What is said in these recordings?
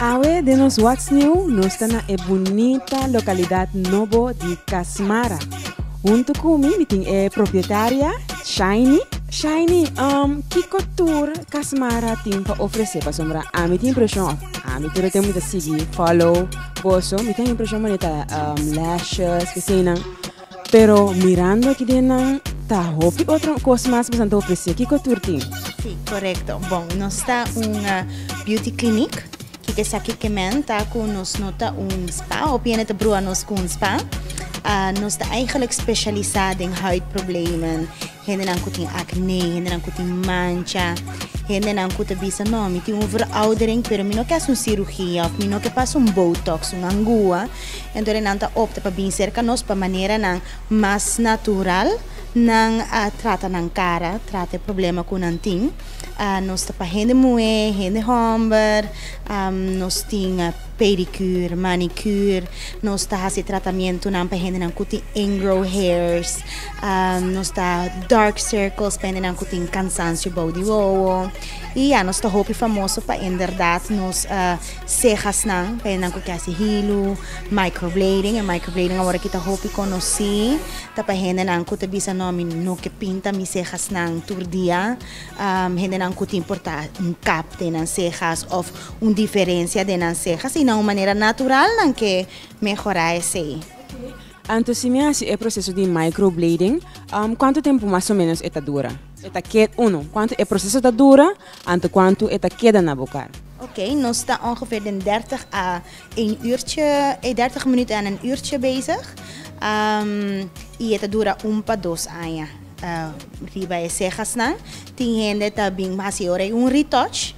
Awe den nos What's New nos ta na e bunita lokalidad nobo di Kasmara. Huntu ku mi mi tin e propietaria Shaini. Shaini, um, kiko tur Kasmara tin pa ofrese? Pasobra ami tin impresion, of ami tur lo tene mucha sigui, follow, Goso, mi tin impresion mane ta lashes esei nan pero mirando aki den nan ta hopi otro cos mas cu nan ta ofrece kico tur tin? Sí, correcto. Bon, nos ta un ah, beauty clinic. Kiko esaki ke men ta ku nos no ta un spa of yende ta brua nos ku un spa. Ah, nos ta eigenlijk specialisa den huidproblemen, Hendenan ku tin akné, hendenan ku tin mancha, hendenan ku ta bisa no mi tin un veroudering pero mi no ke hasu un sirugia òf mi no ke pasa un botox, un angua, enton e nan ta opta pa bin serka nos pa maneranan mas natural nan a trata nan kara, trata e problema ku nan tin. Nos ta pa hende muhé, hende hòmber, nos tin. pedicure, manicure, nos ta hasi tratamentonan pa hendenan ku tin ingrow hairs, nos ta dark circles pa hendenan ku tin kansansio bou di wowo i ya nos ta hopi famoso pa enderdat nos sehasnan pa hendenan ku ke hasi hilu, microblading, e microblading awor aki ta hopi konosí ta pa hendenan ku ta bisa no mi no ke pinta mi sehasnan tur dia, hendenan ku tin por ta un kap den nan sehas òf. Un diferensia den nan sehas i na un manera natural nan ke mehorá esei. Anto si mi hasi e proseso di microblading, kuantu tempu mas o ménos e ta dura? E ta keda, uno, kuantu e proseso ta dura, anto kuantu e ta keda na bo kar? Ok, nos ta ongeveer den dèrtig a én uurtje, dèrtig minüt a nan uurtje bezig. I e ta dura un pa dos aña riba e sehasnan. Tin hende ta bin hasi ora ei un retouch.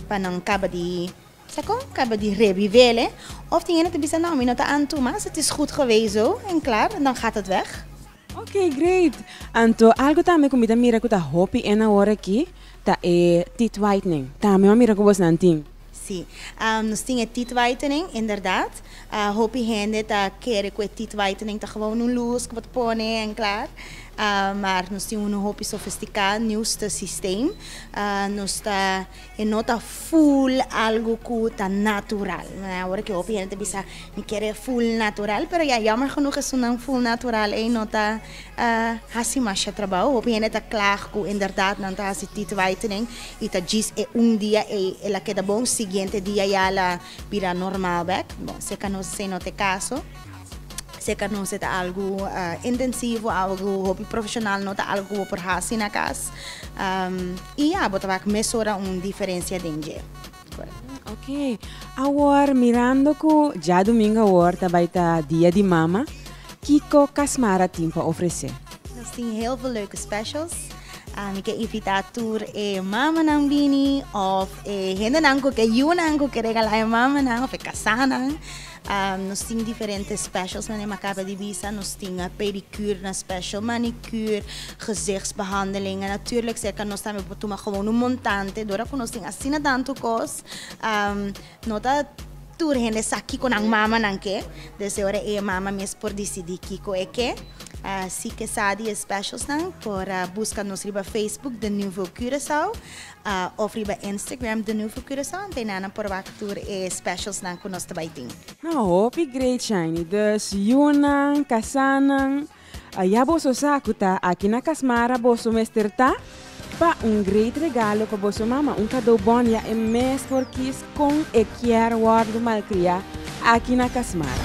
Pa nan kaba di sa kon, kaba di rebivel e. Of tin hende ta bisa no, mi no ta anto mas, et is goed geweest zo, en klaar, dan gaat het weg. Ok, great! Anto algo tambe ku mi ta mira ku ta hopi en awor aki ta e teeth whitening. Tambe mi a mira ku bosnan tin. Sí, nos tin e teeth whitening, inderdaad. A hopi hende ta kere ku e teeth whitening ta gewoon un lus ku bo ta pone en klar, maar nos tin un hopi sofistika niuste sistem. Nos ta e no ta full algu ku ta natural. Ora ke hopi hende ta bisa mi kere full natural pero ya jammer genoeg esunnan full natural ei no ta hasi masha trabou. Hopi hende ta klaag ku inderdat nan ta hasi teeth whitening i ta djis e un dia ei el a keda bon, siguiente dia ya la Bira normal bek. Bon, si e ka nos así no t'e kaso. Si e ka nos e ta algu intensivo, algu hopi profeshonal, no ta algu ku bo por hasi na kas. I ya, bo ta wak mesora un diferensia den dje. Oke, awor mirando ku djá dumingu awor ta bai ta Dia di Mama, kiko Kasmara tin pa ofresé? Nos tin heel veel leuke specials. Ah, mi ke invita tur e mamanan bini of e hendenan ku ke yunan ku ke regala e mamanan of e kasanan. Ah, nos tin diferente specials men e makaba di bisa. Nos tin a pedicure na special, manicure, gezichtsbehandeling. En natuurlijk cerca nos tambe por tuma gewoon un montante. Dora ku nos tin asina tantu kos, ah, No ta tur hende sa kiko nan mamanan ke, desde ora e mama mes por disidí kiko e ke. Así ke sa di e specialsnan por a buska nos riba Facebook The Nouveau Curaçao òf riba Instagram The Nouveau Curaçao anto eynan nan por wak tur e specialsnan ku nos ta bai tin. Nan hopi great shiny, dus yunan, kasanan. Aya boso sa ku ta aki na Kasmara boso mester ta pa un great regalo pa boso mama, un kadou bon ya e mes por kis kon e kier wòrdu malkriá aki na Kasmara.